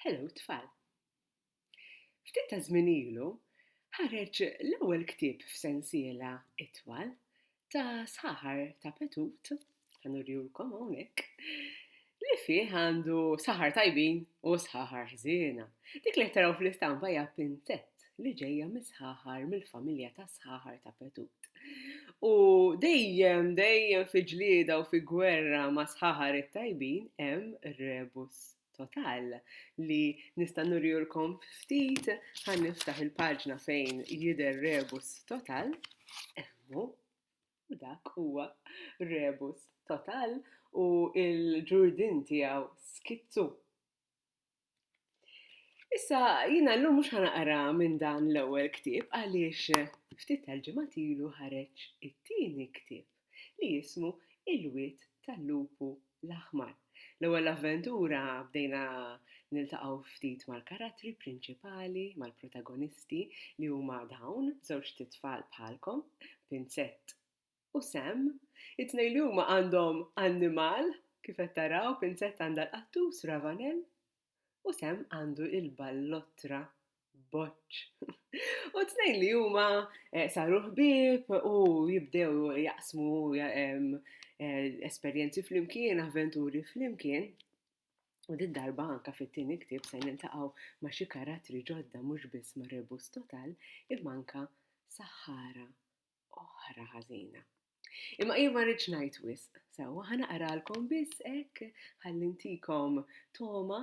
Hello tfal! Ftit ta' żmien ilu ħareġ l-ewwel ktieb f'sensiela itwal ta' saħar ta' Petut, ħanurihulkom hawnhekk, li fih għandu saħar tajbin u saħar ħżiena. Dik li qed taraw fl-istampa hija Pinzett. li ġejja mis-sħaħar, mill-familja tas-sħaħar ta' Petut. U dejjem, dejjem fi ġlieda u fi gwerra ma' sħaħar it-tajbin hemm rebus total li nista' nurjulkom ftit ħan niftaħ il-paġna fejn jidher rebus total. Emmu, u dak huwa rebus total u il-ġurdin tiegħu skizzu. Issa, jina l-lum mux ħanaqra minn dan l-ewel ktib għaliex ftit tal-ġemat ilu ħareġ it-tieni ktib li jismu Il-Wit tal-Lupu l-Aħmar. L-ewel avventura bdejna niltaqgħu ftit mal-karattri prinċipali, mal-protagonisti li huma dawn, żewġ titfal bħalkom, Pinzett u Sam, it-tnejn li huma għandhom annimal, kif qed taraw, Pinzetta għandha l-qattus Ravanell u Sam għandu il-ballottra Boċċ. U t-tnejn li huma eh, saru ħbieb u jibdew jaqsmu eh, esperjenzi flimkien, avventuri flimkien. U din darba anka fit-tieni ktieb se nintaqgħu ma' xi karattri ġodda mhux biss ma' Rebus Total imma anka Sahara oħra ħażina. Imma jien ma rridx ngħid wisq, sewwa ħa naqralkom biss hekk ħalli ntikom toma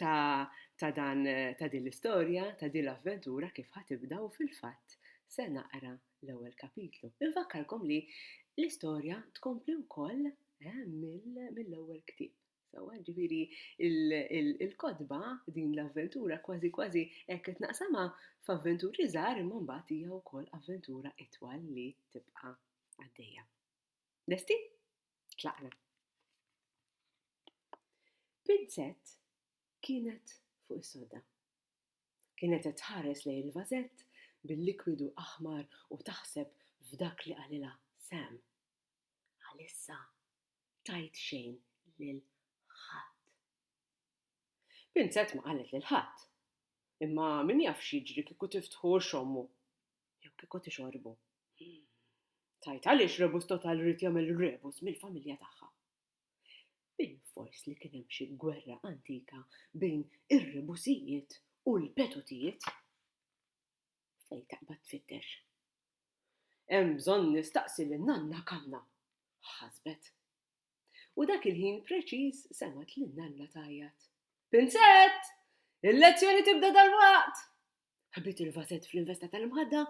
ta' ta' dan ta' din l-istorja, ta' din l-avventura kif ħatibda u fil-fatt se naqra l-ewwel kapitlu. Infakkarkom li l-istorja tkompli wkoll eh, mill-ewwel ktieb. Sewwa, ġifieri il-kotba din l-avventura kważi kważi hekk qed naqsamha f'avventuri żgħar imma mbagħad hija wkoll avventura itwal li tibqa' għaddejja. Lesti? Tlaqna. Pinzett kienet fuq is-sodda. Kienet qed tħares lejn il-vażett bil-likwidu aħmar u taħseb f'dak li qalilha Sam. Għalissa tgħid xejn lil ħadd. Pinzett ma qalet lil ħadd, imma min jaf x'jiġri kieku tiftħu u xommu, jew kieku tixorbu. Tgħid għaliex Rebus Total ried jagħmel Rebus mill-familja tagħha. Bilfors li kien hemm xi gwerra antika bejn ir-Rebusijiet u l-Petotijiet. Fejn taqbad tfittex? Hemm bżonn nistaqsi lil Nanna Kanna, ħasbet. U dak il-ħin preċiż semgħet lil Nanna tgħajjat. Pinzett! Il-lezzjoni tibda dalwaqt! Ħabbit il-vażett fl-investa tal-imħadda,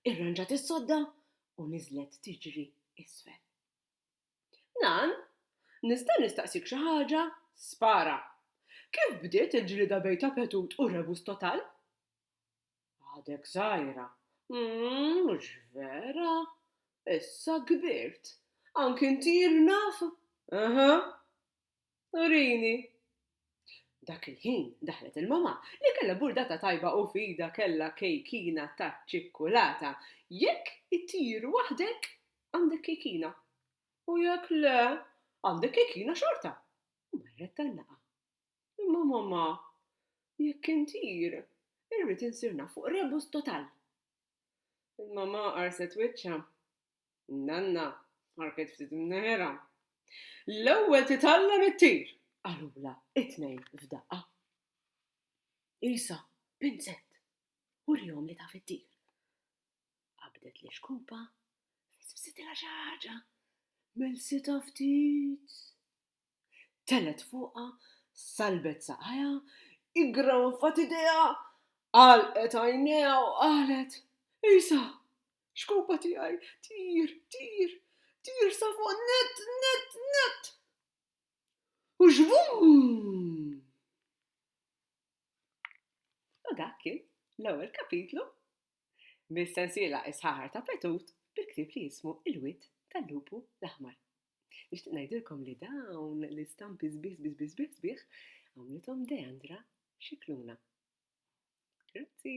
irranġat is-sodda u niżlet tiġri isfel. Nan, nista' nistaqsik xi ħaġa? Spara! Kif bdiet il-ġlieda bejn Tapetut u Rebus Total? Għadek żgħira. Mhux vera! Issa kbirt. Anki inti jien naf? Aha. Urini. Dak il-ħin daħlet il-mamà, li kellha burdata tajba u f'idha kellha kejkina taċ-ċikkulata. Jekk ittir waħdek, għandek kejkina. U jekk le, għandek kejkina xorta. U marret tan-naqa. Imma mamma, jekk intir, irrid insir naf fuq rebus total. Il-mamma qarset wiċċha. Nanna ħarket ftit imneħħerha. L-ewwel titgħallem ittir, qalulha t-tnejn f'daqqa. Isa, pinzett, urihom li taf ittir. Qabdet l-ixkupa, fissfsitilha xi ħaġa, melsietha ftit. Telgħet fuqha, salbet saqajha, iggrawfat idejha, għalqet għajnejha u qalet, Isa, xkupa tiegħi, tir, tir, tir sa fuq nett, nett, nett! U xvum! U dak kien l-ewwel kapitlu mis-sensiela Is-Ħaħar ta' Petut bil-ktieb li jismu Il-Wied tal-Lupu l-Aħmar. Nixtieq ngħidilkom li dawn l-istampi sbieħ sbieħ sbieħ sbieħ sbieħ għamlithom Deandra Scicluna. Grazzi!